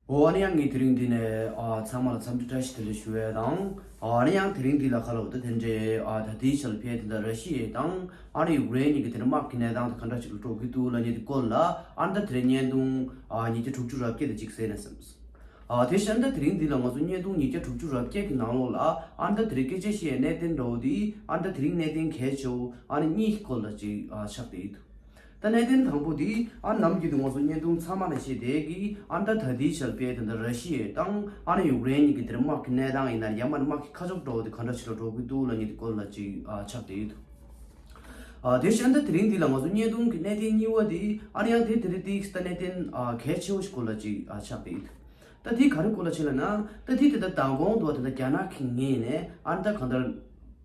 འོ་ཨ་ནི་ཡང་ངས་དེ་རིང་འདི་ནས་ཚང་མ་ལ་འཚམས་འདྲི་བཀྲ་ཤིས་བདེ་ལེགས་ཞུ་བས་དང། ཨ་ནི་ཡང་དེ་རིང་འདི་ལ་ཁ་ལོ་བ་དེ་དེ་འདྲའི་ད་ལྟའི་ཆར་ཕལ་དེ་འདྲ་ར་ཤི་ཡའི་དང་ཨ་རི་ཡུག་རེན་གཉིས་ཀྱི་དེ་འདྲ་དམག་གི་གནས་སྟངས་དེ་ག་འདྲ་ཞིག་ལ་འགྲོ་གི་འདུག་ལ་ཉེ་དུས་སྐོར་ལ་ཨ་མདའ་དེ་རིང་བརྙན་ཐུང་ཉིས་བརྒྱ་དྲུག་ཅུ་རབ་བརྒྱད་དེ་གཅིག་བཟས་ནས་སེམས། དེ་བཞིན་ཨ་མདའ་དེ་རིང་འདི་ལ་ང་ཚོ་བརྙན་ཐུང་ཉིས་བརྒྱ་དྲུག་ཅུ་རབ་བརྒྱད་ཀྱི་ནང་ལོགས་ལ་ཨ་མདའ་དེ་རིང་སྐད་ཆ་བཤད་ཡའི་གནས་དེ་འདྲ་བོ་དེ་ཨ་མདའ་དེ་རིང་གནས་དེ་གལ་ཆེ་བོ་ཨ་ནི་གཉིས་ཀྱི་སྐོར་ལ་གཅིག་ཆགས་བསྡད་ཡོད་དུས། ད་གནད་དོན་དང་པོ་དེ་ཨ་རི་ནམ་རྒྱུན་དུ་ང་ཚོ་བརྙན་ཐུང་ཚང་མ་ལ་བྱས་དེ་གིས་ཨ་མདའ་ད་དེའི་ཞག་པའི་དེ་འདྲ་ར་ཤི་ཡའི་དང་ཨ་རི་ཡུག་རེན་གཉིས་ཀྱི་དེར་དམག་གི་གནས་སྟངས་ཡིན་ན་རྒྱ་མ་ནི་དམག་གི་ཁ་ཕྱོགས་འགྲོ་བ་དེ་ག་འདྲ་ཞིག་ལ་འགྲོ་གི་འདུག་ལ་ཉེ་དུ་སྐོར་ལ་ཅིག་ཆགས་བསྡད་ཡོད་འདུག་དེ་བཞིན་ཨ་མདའ་དེ་རིང་འདི་ལ་ང་ཚོ་བརྙན་ཐུང་གི་གནད་དོན་གཉིས་བ་དེ་ཨ་རི་ཡང་དེ་དེ་རེད་དེ་གིས་ད་གནད་དོན་གལ་ཆེ་བོ་ཞིག་སྐོར་ལ་ཅིག་ཆགས་བསྡད་ཡོད་འདུག་ད་དེ་ག་རེ་སྐོར་ལ་བྱས་ལ་ན་ད་དེ་དེ་ལྟར་དང་གོང་དུ་བ་དེ་འདྲ་རྒྱ་ནག་གིས་ངེད་ནས་ཨ་མདའ་ག་འདྲ།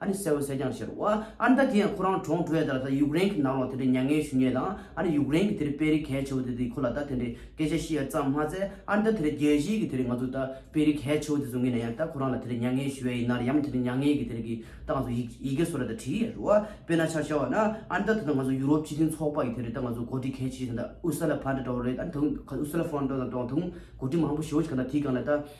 ཨ་ནི་གསལ་བོ་གསལ་རྐྱང་ཤར། ཨ་ནི་ད་དེ་ཡང་ཁོ་རང་གྲོང་གྲོལ་ཡས་ད་ད་ཡུཀ་རེན་གི་ནང་ལོག་དེ་འདྲའི་མྱ་ངན་ཞུ་ཉེས་དང་ཨ་ནི་ཡུཀ་རེན་གི་དེ་རི་པེ་རི་གལ་ཆེ་བོ་དེ་དེ་ཁོ་ལ་ད་དེ་འདྲའི་སྐད་ཆ་བཤད་ཡ་ཙམ་མ་ཚད་ཨ་ནི་ད་དེ་རི་རྒྱལ་སྤྱིའི་གི་དེ་རི་ང་ཚོ་ད་པེ་རི་གལ་ཆེ་བོ་དེ་ཚོ་ངེས་ན་ཡང་ད་ཁོ་རང་ལ་དེ་རི་མྱ་ངན་ཞུ་ཡ་ཡིན་ནར་ཡང་མ་དེ་རི་མྱ་ངན་གི་དེ་རི་གི་ད་ང་ཚོ་ཡི་ཡི་གེ་སོ་ར་ད་བྲིས་ཡས་རུ་ཨ་དཔེ་ན་ཆ་ཤར་བ་ན་ཨ་ནི་ད་ད་ད་ང་ཚོ་ཡུ་རོབ་སྤྱི་མཐུན་ཚོགས་པ་གི་དེ་རི་ད་ང་ཚོ་གོ་སྒྲིག་གལ་ཆེ་ཞིག་དང་ད་ཨུ་སི་ལ་ཕ་འདྲ་འདྲ་བོ་རེད་ཨ་ནི་ད་ཨུ་སི་ལ་ཕོན་འདྲ་འདྲ་འདྲ་བ་ད་གོ་སྒྲིག་མང་པོ་ཞུ་བ་ཞིག་ག་ད་དེ་གང་ལ་ད།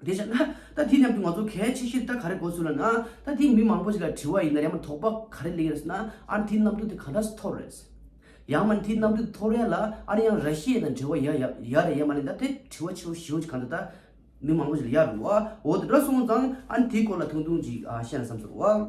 དེ་བྱས་ན་ད་དེ་རྣམས་ཀྱི་ང་ཚོ་གལ་ཆེ་ཤོས་ད་ག་རེ་གོ་ཚུལ་ལ་ན་ད་དེ་མི་མང་པོ་ཞིག་ལ་དྲི་བ་ཡིན་ན་ཡང་མ་དོགས་པ་ག་རེ་གླེང་རེས་ན་ཨར་འཐིའི་རྣམ་འགྱུར་དེ་གང་འདྲ་སུ་ཐོར་རེས། ཡང་མ་འཐིའི་རྣམ་འགྱུར་དེ་ཐོར་རེས་ལ་ཨར་ཡང་ར་ཤེས་ན་འབྲེལ་བ་ཡ་ཡ་རེ་ཡ་མ་རེ་ད་དེ་དྲི་བ་ཆེ་བོ་ཞེ་བོ་ཅིག་གང་འདྲ་ད་མི་མང་པོ་ཞིག་ལ་ཡ་རུ་བ་འོ་དེ་འདྲ་སོང་ཙང་ཨར་འཐིའི་སྐོར་ལ་ཐུང་ཐུང་ཅིག་བཤད་ན་བསམ་ཚུར་བ།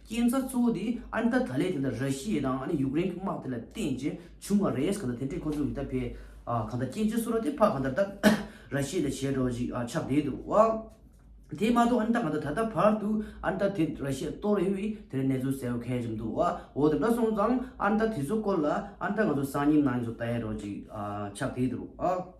རྐྱེན་རྩ་གཙོ་བོ་དེ་ཨན་ཏཱ་ད་ལའི་དེ་འདྲ་ར་ཤི་ཡའི་དང་ཡུཀ་རེན་གྱི་དམག་དེ་ལ་བརྟེན་རྗེས་བྱུང་བ་རེད་གང་ལྟར་དེ་འདྲས་ཁོ་ཚོ་གི་ད་ཕའི་གང་ལྟར་སྐྱེ་འཆི་སུ་ར་དེ་ཕ་གང་ལྟར་ད་ར་ཤི་ཡ་ལས་བྱེད་འགྲོ་ཅིག་ཆགས་བསྡད་འདུག་བ། དེ་མ་གཏོགས་ཨན་ཏཱ་གང་ལྟར་ད་ལྟ་བར་དུ་ཨན་ཏཱ་དེ་ར་ཤི་ཡ་གཏོར་རེ་བའི་དེ་འདྲའི་གནས་ཚུལ་གསལ་བོ་ཁེལ་གྱི་མི་འདུག་བ། འོ་དེ་འདྲ་སོང་ཙང་ཨན་ཏཱ་དེ་ཚོའི་སྐོར་ལ་ཨན་ཏཱ་ང་ཚོ་སང་ཉིན་ནང་ཚོ་བལྟ་ཡ་འགྲོ་ཅིག་ཆགས་བསྡད་འདུག་བ།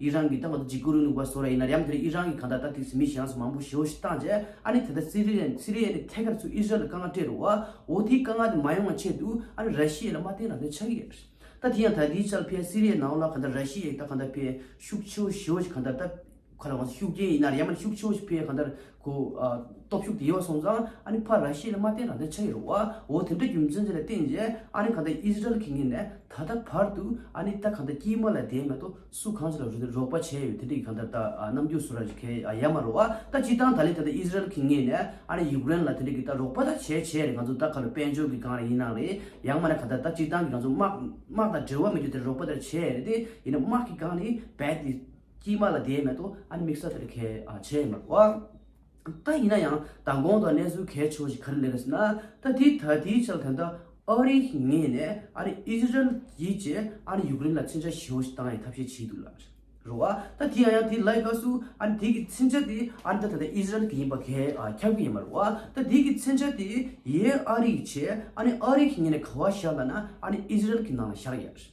ཡིད་རང་གིས་བཏགས་པ་དང་གཅིག་བསྐུར་འོས་ནུག་པ་བཟོ་ར་ཡིན་ན་རྒྱམ་དེ་རིང་ཡིད་རང་གིས་གང་ལྟར་ལྟ་ཐིགས་སུ་མི་གཞན་སུ་མང་པོ་ཞོ་ཞིག་བཏང་རྗེས་ཨ་ནི་དེ་ལྟར་སི་རི་ཡ་སི་རི་ཡའི་ནི་ཐད་ཀར་ཚུར་ཨི་ཟི་རལ་ལ་དཀའ་ངལ་སྤྲད་རུ་བ་འོ་དེའི་དཀའ་ངལ་དེ་མ་ཡོང་བ་ཆེད་དུ་ཨ་ནི་ར་ཤི་ཡའི་ལ་མ་བརྟེན་རང་དོན་ཆགས་ཀྱི་ཡོད་རེད་ད་དེ་ཡང་ད་དེའི་ཆར་ཕལ་སི་རི་ཡའི་ནང་ལ་གང་ལྟར་ར་ཤི་ཡའི་ལྟ་གང་ལྟར་ཕལ་ཤུགས་ཆེ་བོ་ཞོ་ཞིག་གང་ལྟར་ལྟ་ག་ལ་དབང་ས་ཤུགས་རྐྱེན་ཡིན་ན་རྒྱམ་ཨ་ནི་ཤུགས་ཆེ་བོ་ཞིག་ཕལ་གང་ལྟར། གོ། སྟོབས་ཤུགས་དེ་ཡོད་སོང་ཙང་ཨ་ནི་ཕ་ར་ཤི་ལ་མ་བསྟན་རང་དོན་ཆ་ཡི་རུ་བ་འོ་དེ་འདྲ་རྒྱུ་མཚན་ཅི་ལ་བསྟན་རྗེས་ཨ་ནི་གང་ལྟར་ཨི་ཟི་རལ་གྱི་ངོས་ནས་ད་ལྟ་བར་དུ་ཨ་ནི་ད་གང་ལྟར་དཀྱིལ་མ་ལ་དེའི་ངང་དུ་སུ་གང་ཞིག་ལ་རུ་དེ་རོགས་པ་བྱས་ཡོད་དེ་འདྲ་གི་གང་ལྟར་ད་ནམ་རྒྱུན་སུ་ར་ཞིག་གས་ཡ་མ་རུ་བ་ད་སྤྱི་བཏང་ད་ལན་ད་ལྟ་ཨི་ཟི་རལ་གྱི་ངོས་ནས་ཨ་ནི་ཡུཀ་རེན་ལ་དེ་འདྲ་གི་ད་རོགས་པ་ད་བྱས་བྱས་རེད་ང་ཚོ་ད་ག་ལ་དཔལ་འབྱོར་གི་སྒང་རེད་ཡིན་ནང་རེད་ཡང་མ་ན་གང་ལྟར་ད་སྤྱི་བཏང་གི་ང་ཚོ་དམག་དམག་དང་འབྲེལ་བ་མི་རྒྱུ་དེ་རོགས་པ་ད་བྱས་རེད་དེ་ཡིན་ན་དམག་གི་སྒང་ནི་བད་དེ། དཀྱིལ་མ་ལ་དེའི་མེད་དོ་ཨ་ནི་དམིགས་བསལ་དེར་གལ་ཆེ་ཡིན་པར་གོ། ད་ཡིན་ན་ཡང་མདང་དགོང་དང་གནས་ཚུལ་གལ་ཆེ་བ་ཞིག་ག་རེ་འདི་རེད་ཟེར་ན་ད་དེའི་ད་དེའི་ཆ་ལ་ད་ལྟ་ཨ་རི་ངེས་ནས་ཨ་རི་ཨིས་རལ་གྱིས་ཀྱིས་ཨ་ནི་ཡུག་རེན་ལ་མཚོན་ཆ་ཞེ་བོ་ཞིག་བཏང་ཡང་ཐབས་ཤེས་བྱས་འདུག་ལབ་རོ་ཨ་ད་དེ་ཡང་ཡང་དེ་ལའི་སྐབས་སུ་ཨ་ནི་དེ་གི་མཚོན་ཆ་དེ་ཨ་ནི་ད་ད་ལྟ་ཨིས་རལ་གྱི་ཡིན་པ་གལ་ཁྱབ་ཀྱི་ཡིན་པར་གོ་ད་དེ་གི་མཚོན་ཆ་དེ་ཡའི་ཨ་རི་ཡིས་བྱས་ཨ་ནི་ཨ་རི་ངེས་ནས་ག་བ་བཞག་ལ་ན་ཨ་ནི་ཨིས་རལ་གྱི་ནང་ལ་བཞག་ཡ།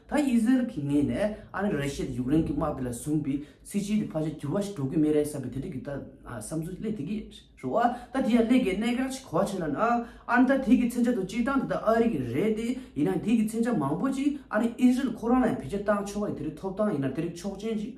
ད་ཨི་ཟི་རལ་གྱིས་ངེད་ནས་ཨ་མི་རེ་ཤི་དང་ཡུཀ་རེན་གྱི་དམག་དེ་ལ་བཟུང་པའི་སྲིད་སྤྱི་དེ་ཕར་ཆེར་འགྱུར་བ་ཞིག་འགྲོ་གི་མེད་རེད་བསམ་པའི་དེ་འདྲ་གི་ད་བསམ་ཚུལ་གླེང་དེ་གི་རེད་བ། ད་དེ་ཡང་གླེང་དགོས་གནད་འགག་ཅིག་གོ་བ་ཆེ་ལ་ན། ཨ་རི་ད་དེ་གི་མཚན་བྱ་དང་སྤྱིར་བཏང་དེ་ད་ཨ་རི་གི་རེད་དེ། ཡིན་ནའང་དེ་གི་མཚན་བྱ་མང་པོ་ཅིག་ཨ་རི་ཨི་ཟི་རལ་ཁོ་རང་ལ་ཡང་བེད་སྤྱོད་བཏང་ཆོག་གི་དེ་རིགས་ཐོབ་ཐང་ཡིན་ན་དེ་རིགས་ཆོག་མཆན་ཅིག་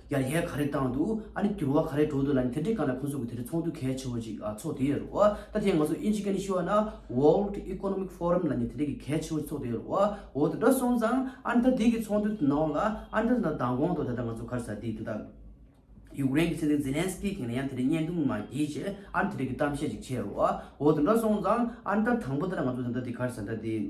ཡར་ཡས་ག་རེ་བཏང་འདུག་ཨ་ནི་འགྱུར་བ་ག་རེ་འགྲོ་འདུག་ལ་ནི་དེ་འདྲའི་སྐབས་ལ་ཁོང་ཚོ་གི་དེ་འདྲའི་ཚོགས་འདུ་གལ་ཆེ་བོ་ཅིག་ཚོགས་དེའི་རུ་ཨ། ད་ཐེངས་ང་ཚོ་ཨིན་ཇི་ཀ་ནི་ཤི་ཝ་ན World Economic Forum ལ་ནི་དེ་འདྲའི་གི་གལ་ཆེ་བོ་ཅིག་ཚོགས་དེའི་རུ་ཨ་འོ་ད་དྲ་སོང་ཙང་ཨ་ནི་ད་དེའི་གི་ཚོགས་འདུ་དེ་ནང་ལ་ཨ་ནི་ད་མདང་དགོང་དུ་ད་ལྟ་ང་ཚོ་ཁར་ས་དེའི་དེ་དག་ཡུཀ་རེན་གི་སྲིད་འཛིན་ཛི་ལན་སི་ཀི་གིས་ནི་ཡང་དེ་འདྲའི་བརྙན་ཐུང་མ་བགྱིས་རྗེས་ཨ་ནི་དེ་འདྲའི་གི་གཏམ་བཤད་ཅིག་བྱས་རུ་ཨ་འོ་ད་དྲ་སོང་ཙང་ཨ་ནི་ད་དང་པོ་ད་ང་ཚོ་ད་ལྟ་དེ་ཁར་ས་ད་དེའི།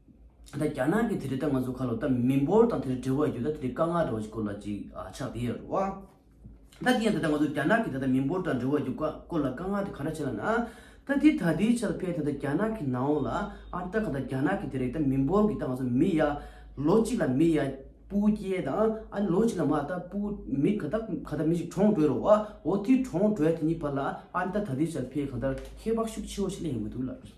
ད་རྒྱ་ནག་གི་དེ་རེད་ད་ང་ཚོ་ཁ་ལོ་ད་མི་འབོར་དང་དེ་རེ་འབྲེལ་བ་ཡོད་ད་དེ་རེ་དཀའ་ངལ་འདྲ་བ་ཞིག་སྐོར་ལ་ཅིག་ཆགས་དེ་ཡོད་རེད་བ། ད་དེ་ཡང་ད་ད་ང་ཚོ་རྒྱ་ནག་གི་ད་ད་མི་འབོར་དང་འབྲེལ་བ་ཡོད་སྐོར་ལ་དཀའ་ངལ་དེ་ག་འདྲ་བྱས་ན་ན། ད་དེ་ད་དེའི་ཆ་ལ་ཕལ་ད་ད་རྒྱ་ནག་གི་ནང་འོང་ལ་ཨ་ད་ག་ད་རྒྱ་ནག་གི་དེ་རེ་ད་མི་འབོར་གི་ད་ང་ཚོ་མི་ཡ་ལོ་གཅིག་ལ་མི་ཡ་སྤུ་སྐྱེས་དང་ཨ་ལོ་གཅིག་ལ་མ་ད་སྤུ་མི་ག་ད་ག་ད་མི་ཞིག་གྲོངས་བྲོས་རོ་བ་འོ་དེ་གྲོངས་བྲོས་དེ་གཉིས་བར་ལ་ཨ་ད་ད་དེའི་ཆ་ལ་ཕལ་ག་ད་ཁྱད་འཕགས་ཤུགས་ཆེ་བོ་ཞིག་ལ་ཡོང་གི་འདུག་ལབ་ཀྱི།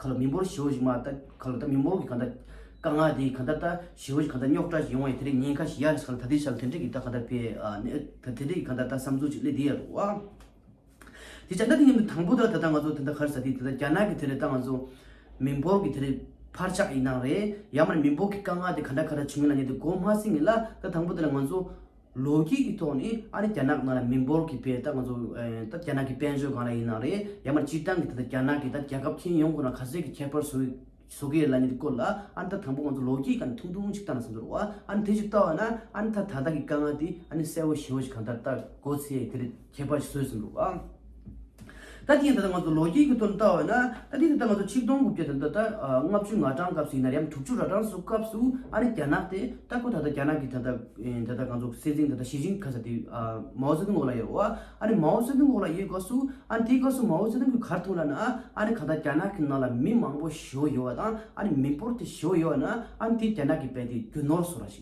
ག་ལ་མི་འབོར་བྱེའུ་ཞིག་མ་ལྟ། ག་ལ་ད་མི་འབོར་གྱི་ག་ད། དཀའ་ངལ་དེ་ག་ད་ད། བྱེའུ་ཞིག་ག་ད་རྙོག་དྲ་ཞིག་ཡོང་བ་ཡིན་དེ་རིང་ཉིན་ཁ་ཞིག་ཡར་ཞིག་ས་ལ་ད་དེ་ཞག་ལ་དེ་འདྲས་ཀྱི་ད་ག་ད་པའི་ད་དེ་འདྲས་ཀྱི་ག་ད་ད་བསམ་ཚུལ་ཅིག་སླེ་དེ་ཡར་རོ། དེ་བྱ་ད་དེ་ཉིན་མོ་དང་པོ་དེ་ལ་ད་ད་ང་ཚོ་དེ་ད་གར་ས་དེ་ད་རྒྱ་ནག་གི་དེ་རེད་ད་ང་ཚོ། མི་འབོར་གྱི་དེ་རེད། འཕར་ཆག་ཡིན་སྟངས་རེད། ཡར་མར་མི་འབོར་གྱི་དཀའ་ངལ་དེ་ག་ད་ག་ད་བྱུང་ཡིན་ལ་ཉེ་དུ་སྒོ་མ་སྲིང་ངེ་ལ་ད་དང་པོ་དེ་ལ་ང་ཚོ། ལོ་རྒྱུས་ཀྱི་ཐོག་ནས་ཨ་རི་རྒྱ་ནག་ནང་ལ་མི་འབོར་གྱི་བེད་ད་ང་ཚོ་ད་རྒྱ་ནག་གི་དཔལ་འབྱོར་གང་ལ་ཡིན་ན་རེད་ཡང་མར་སྤྱིར་བཏང་གི་ད་རྒྱ་ནག་གི་ད་རྒྱལ་ཁབ་ཁྱིན་ཡོང་ཁོ་ན་ག་ཚོད་ཀྱི་ཁྱད་པར་བཟོ་བཟོ་གི་རེད་ལ་ནི་དེ་སྐོར་ལ་ཨ་ནི་ད་དང་པོ་ང་ཚོ་ལོ་རྒྱུས་ཀྱང་ཐུང་ཐུང་ཅིག་བལྟ་ན་ཟིན་འདུག་རོགས་ཨ་ཨ་ནི་དེ་ཅིག་བལྟ་བ་ན་ཨ་ནི་ད་ད་ལྟ་གི་དཀའ་ངལ་དེ་ཨ་ནི་གསལ་བོ་ཞིའོ་ཞིག་གང་ལྟར་བལྟ་དགོས་ཚེ་དེ་རེད། ཁྱད་པར་ཞིག་བཟོས་ཟིན་འདུག་ལ། ད་དེ་ཡང་ད་ལྟ་ང་ཚོ་ལོ་རྒྱུས་ཀྱི་དོན་བལྟ་འོས་ན། ད་དེ་ད་ལྟ་ང་ཚོ་ཆིག་སྟོང་དགུ་བརྒྱ་དང་ད་ལྟ་ལྔ་བཅུ་ང་གྲངས་སྐབས་སུ་ཡིན་ན་རེ་འམ་དྲུག་ཅུ་ར་གྲངས་སུ་སྐབས་སུ་ཨ་རི་རྒྱ་ནག་དེ་ལྟ་ཁོ་ད་ལྟ་རྒྱ་ནག་གི་ད་ལྟ་ད་ལྟ་ང་ཚོ་སྲིད་འཛིན་ད་ལྟ་ཞི་ཅིང་ཁ་ས་དེ་མའོ་ཙེ་ཏུང་འོག་ལ་ཡོད་རེད་བ། ཨ་རི་མའོ་ཙེ་ཏུང་འོག་ལ་ཡོད་སྐབས་སུ་ཨ་དེའི་སྐབས་སུ་མའོ་ཙེ་ཏུང་གི་གར་ཐུག་ལ་ན་ཨ་རི་ག་ད་རྒྱ་ནག་གི་ནང་ལ་མི་མང་པོ་བཞུགས་ཡོད་བ་དང་ཨ་རི་མི་འབོར་དེ་བཞུགས་ཡོད་བ་ན་ཨ་དེ་རྒྱ་ནག་གི་བལ་དེ་རྒྱུ་ནོར་བཟོ་ར་ཞིག།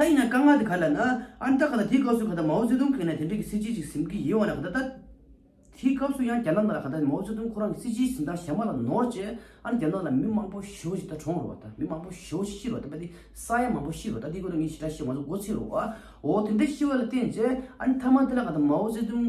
ད་ཡིན་ན་དཀའ་ངལ་དེ་ག་ལ་ན་ཨ་འདྲ་ག་ད་དེའི་སྐབས་སུ་ག་ད་མའོ་ཙེ་ཏུང་གིས་ན་དེ་འདྲ་གི་སྲིད་སྤྱི་ཅིག་ཟིན་གི་ཡིན་བ་ན་ག་ད་ད་དེའི་སྐབས་སུ་ཡང་རྒྱ་ནག་ནང་ལ་ག་ད་མའོ་ཙེ་ཏུང་ཁོ་རང་གི་སྲིད་སྤྱིའི་ཟིན་ཐང་གཞན་པ་ལ་ནོར་རྗེས་ཨ་ན་རྒྱ་ནག་ལ་མི་མང་པོ་ཞོ་ཞིག་ད་གྲོངས་རུ་བ་ད་མི་མང་པོ་ཞོ་ཞིག་ཤི་རུ་བ་ད་པ་དེ་ས་ཡ་མང་པོ་ཤི་རུ་བ་ད་དེའི་སྐོར་ལ་ངས་ཞེ་དྲག་བཤད་ང་ཚོ་མགོ་ཚིག་རུ་བའོ་དེ་འདྲ་ཤི་བ་ལ་བརྟེན་རྗེས་ཨ་ན་མཐའ་མ་དེ་ལ་ག་ད་མའོ་ཙེ་ཏུང།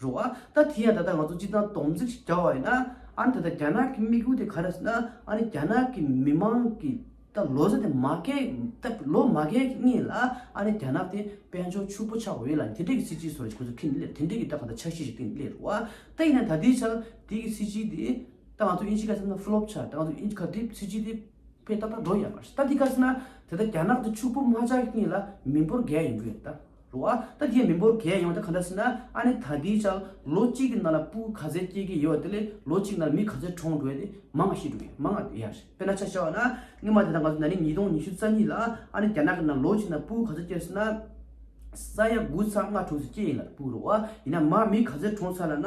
རོ། ཨ་ད་དེ་ཡང་ད་ལྟ་ང་ཚོ་སྤྱི་དང་སྡོམ་རྩིས་ཀྱི་འདྲ་བ་ཡིན་ན། ཨ་ནི་ད་ལྟ་རྒྱ་ནག་གི་དམིགས་ཡུལ་དེ་ག་རེ་ཟེར་ན། ཨ་ནི་རྒྱ་ནག་གི་མི་མང་གི་ད་ལོ་ཟེར་ཏེ་མ་སྐྱེས་ད་ལོ་མ་སྐྱེས་ཀྱི་གཉིས་ལ་ཨ་ནི་རྒྱ་ནག་དེ་དཔལ་འབྱོར་ཕྱུག་པོ་ཆགས་འོས་ལ་དེ་འབྲེལ་གྱི་སྲིད་སྤྱིའི་སོར་ཆུད་ཁེ་ནི་དེ་འབྲེལ་གྱི་ད་ག་ད་འཆར་གཞི་ཞིག་གི་སླད་རོ། ཨ་ད་ཡིན་ན་ད་དེའི་འཆར་དེ་གི་སྲིད་སྤྱི་དེ་ད་ང་ཚོ་དབྱིན་ཇི་ག་ཟེར་ན་ཕུ་ལོབ་ཆགས་ད་ང་ཚོ་དབྱིན་ཇི་ག་དེ་སྲིད་སྤྱི་དེ་ཕེ་ཏག་ཏག་འགྲོ་ཡ་མ་རེད་ད་དེ་ག་ཟེར་ན་དེ་ད་རྒྱ་ནག་དེ་ཕྱུག་པོ་མ་ཆགས་ཀྱི་གཉིས་ལ་མི་འབོར་རྒས་ཡིན་རྒྱུ་ཡིན་ད། རུ་ཨ། ད་ཁྱེད་མི་འབོར་གས་ཡོང་ད་ག་འདྲ་ཟེར་ན་ཨ་ནི་ད་ལྟའི་ཆར་ལོ་གཅིག་གི་ནང་ལ་སྤུ་ག་ཚད་སྐྱེས་ཀྱི་ཡོད་དེ་ལས་ལོ་གཅིག་ནང་ལ་མི་ག་ཚད་གྲོངས་འགྲོ་ཡ་དེ་མང་ང་ཤི་འགྲོ་ཡ་མང་ང་འདས་ཡ་རེད་དཔེར་ན་ཆ་བྱ་བ་ན་སྔོན་མ་དེ་ད་ང་ཚོ་ན་ནིང་ཉིས་སྟོང་ཉི་ཤུ་རྩ་གཉིས་ལ་ཨ་ནི་རྒྱ་ནག་གི་ནང་ལོ་གཅིག་ནང་སྤུ་ག་ཚད་སྐྱེས་ཟེར་ན་ས་ཡ་དགུ་ཚ་ལྔ་དྲུག་ཚད་སྐྱེས་ཡིན་ལ་སྤུ་རུ་ཨ་ཡིན་ན་མ་མི་ག་ཚད་གྲོངས་ཚར་ལ་ན་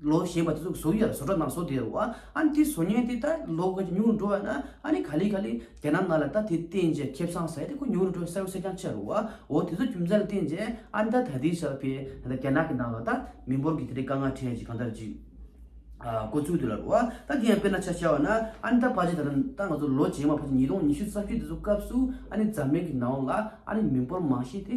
ལོ་ཞེས་པ་དེ་ཚོ་གཟུགས་ཡོད་ལ་བཟོ་གྲྭ་ནང་བཟོ་བདེ་རུ་ཨ་ནི་དེ་བཟོ་ཉེན་དེ་ད་ལོ་དགོས་ཀྱི་ཉུང་རུ་འགྲོ་བས་ན་ཨ་ནི་ག་ལེ་ག་ལེ་རྒྱ་ནག་ནང་ལ་ད་དེ་བསྟན་རྗེས་ཁེབས་ཚང་ཟེར་ཡ་དེ་ཁོ་ཉུང་རུ་འགྲོ་བས་གསལ་བོ་གསལ་རྐྱང་ཆགས་རུ་འོ་དེ་ཚོ་རྒྱུ་མཚན་ལ་བསྟན་རྗེས་ཨ་ནི་ད་ད་དེའི་ཞག་དེ་ད་རྒྱ་ནག་གི་ནང་ལ་ད་མི་འབོར་གྱི་དེ་རིང་དཀའ་ངལ་འཕྲད་ཅིག་གང་ལྟར་ཅིག་དཀོན་ཚུལ་དེ་ལ་རུ་ཨ་ད་དེ་ཡང་དཔེར་ན་ཆ་བྱ་བ་ན་ཨ་ནི་ད་ཕ་ཆེ་ད་ད་ང་ཚོ་ལོ་རྗེས་མ་ཕ་ཆེ་ཉིས་སྟོང་ཉི་ཤུ་རྩ་བཅུ་དེ་ཚོ་སྐབས་སུ་ཨ་ནི་འཛམ་གླིང་གི་ནང་ལ་ཨ་ནི་མི་འབོར་མང་ཤས་དེ་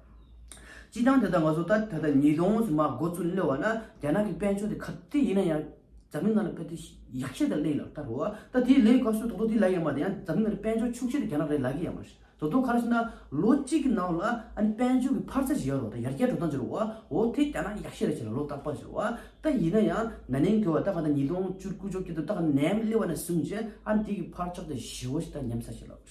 སྤྱི་བཏང་ད་ལྟ་ང་ཚོ་ད་ལྟ་ཉིས་སྟོང་སུ་མ་འགོ་བཙུགས་སླེ་བ་ན་རྒྱ་ནག་གི་དཔལ་འབྱོར་དེ་ག་དེ་ཡིན་ན་ཡང་འཛམ་གླིང་ནང་ལ་ཕལ་ཏེ་ཡག་ཤེས་དང་ལེ་ཡིན་ལགས་ད་རོ་ཨ་ད་དེ་ལེ་ག་སུ་དོག་དོག་དེ་ལ་ཡ་མ་ད་ཡང་འཛམ་གླིང་ནང་ལ་དཔལ་འབྱོར་ཕྱུག་ཤེས་དེ་རྒྱ་ནག་རེད་ལགས་གི་ཡ་མ་རེད་ད་དོ་ག་ར་ཤི་ན་ལོ་གཅིག་གི་ནང་ལ་ཨ་ནི་དཔལ་འབྱོར་གི་འཕར་ཚད་ཇི་ཡག་རོ་ད་ཡར་རྒྱས་འགྲོ་སྟངས་ཇི་རོ་ཨ་འོ་དེ་རྒྱ་ནག་ཡག་ཤེས་རེད་བྱས་ལ་ལོ་རྟག་པ་ཇི་རོ་ཨ་ད་ཡིན་ན་ཡང་ན་ནིང་གི་བ་ད་ག་ད་ཉིས་སྟོང་བཅུ་དགུ་བཅོ་བརྒྱད་དུ་ད་ག་ནས་སླེ་བ་ན་སུམ་བརྒྱད་ཨ་ནི་དེ་གི་འཕར་ཆག་དེ་ཞི་བོ་ཞིག་ད་ཉམས་ས་ཞིག་ལགས།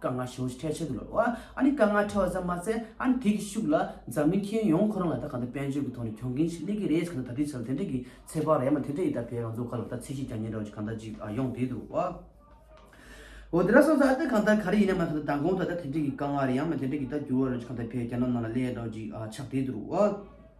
དཀའ་ངལ་བྱུང་ཞིག་ཁྲལ་ཆེ་གི་ལོ། ཨཱ་ནི་དཀའ་ངལ་ཁྲལ་བ་ཙམ་མ་ཟད་ཨཱ་ནི་དེ་གི་ཤུགས་ལ་འཛམ་གླིང་ཁྱོན་ཡོངས་ཁོ་རང་ལ་ད་ག་འདི་དཔལ་འབྱོར་གི་ཐོག་ནས་གྱོང་གིན་ཞིག་སླེབས་གི་རེད་ག་འདི་ད་དེ་ཆ་ལ་དེ་འདྲ་གི་ཚེ་བག་ལ་ཡ་མ་དེ་འདྲ་ཡི་ད་བལ་རང་ཚོ་ག་ལ་ད་ཚེ་གཞིས་ཀྱང་ཉེན་འདྲ་བ་ཅིག་ག་འདྲ་ཅིག་ཨ་ཡོང་དེ་འདུག་བ། འོ་དེ་འདྲ་སོང་ཚ་ཨ་ད་ག་འདི་ག་རེ་ཡིན་ན་མ་ག་འདི་ད་གོང་དུ་ད་དེ་འདྲ་གི་དཀའ་ངལ་རེ་ཡ་མ་དེ་འདྲ་གི་ད་འགྱུར་བ་རེ་ཅིག་ག་འདི་བལ་རྒྱ་ནག་ནང་ལ་སླེབས་འདྲ་བ་ཅིག་ཨ་ཆགས་དེ་འདུག་བ།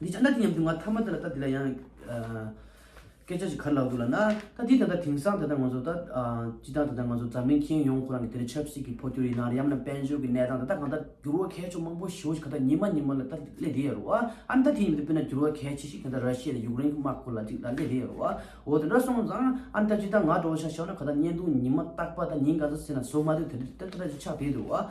འདི་ཅང་ད་དེ་སྙམ་དུ་ང་ཐ་མ་དེ་ལ་ད་དེ་ལ་ཡང་སྐད་ཆ་ཞིག་ག་ལ་ལ་འདུག་ལ་ན། ད་དེ་ད་ལྟ་དེང་སང་ད་ལྟ་ང་ཚོ་ད་སྤྱི་དང་ད་ལྟ་ང་ཚོ་འཛམ་གླིང་ཁྱེའུ་ཡོངས་ཁོ་རང་གི་དེ་རིང་ཆབ་སྲིད་ཀྱི་འཕོ་འགྱུར་ཡིན་ན་རེ་ཡམ་ན་དཔལ་འབྱོར་གྱི་གནས་སྟངས་ད་ལྟ་གང་ལྟར་འགྱུར་བ་གལ་ཆུ་མང་པོ་བྱུང་ཞིང་ག་ད་ཉི་མ་ཉི་མ་ལ་ད་སླེ་བསྡད་ཡ་རོ་ཨ། ཨ་ན་ད་དེ་ཉི་མ་དེ་དཔེར་ན་འགྱུར་བ་གལ་ཆེ་ཞིག་གང་ལྟར་ར་ཤི་ཡ་དང་ཡུག་རེན་གྱི་དམག་ཁོ་ལ་ཅིག་ད་སླེ་བསྡད་ཡ་རོ་ཨ། འོ་དེ་འདྲ་སོང་ཙང་ཨ་ན་ད་སྤྱི་དང་ང་འགྲོ་བ་ཤག་ཤོག་ན་ག་ད་བརྙན་ཐུང་ཉི་མ་རྟག་པ་ད་ཉིན་ག་ཚོད་ཟིན་ན་བཟོ་མ་ཐུབ་དེ་དེ་ད་ད་ཅིག་ཆགས་བསྡད་འདུག་ཨ།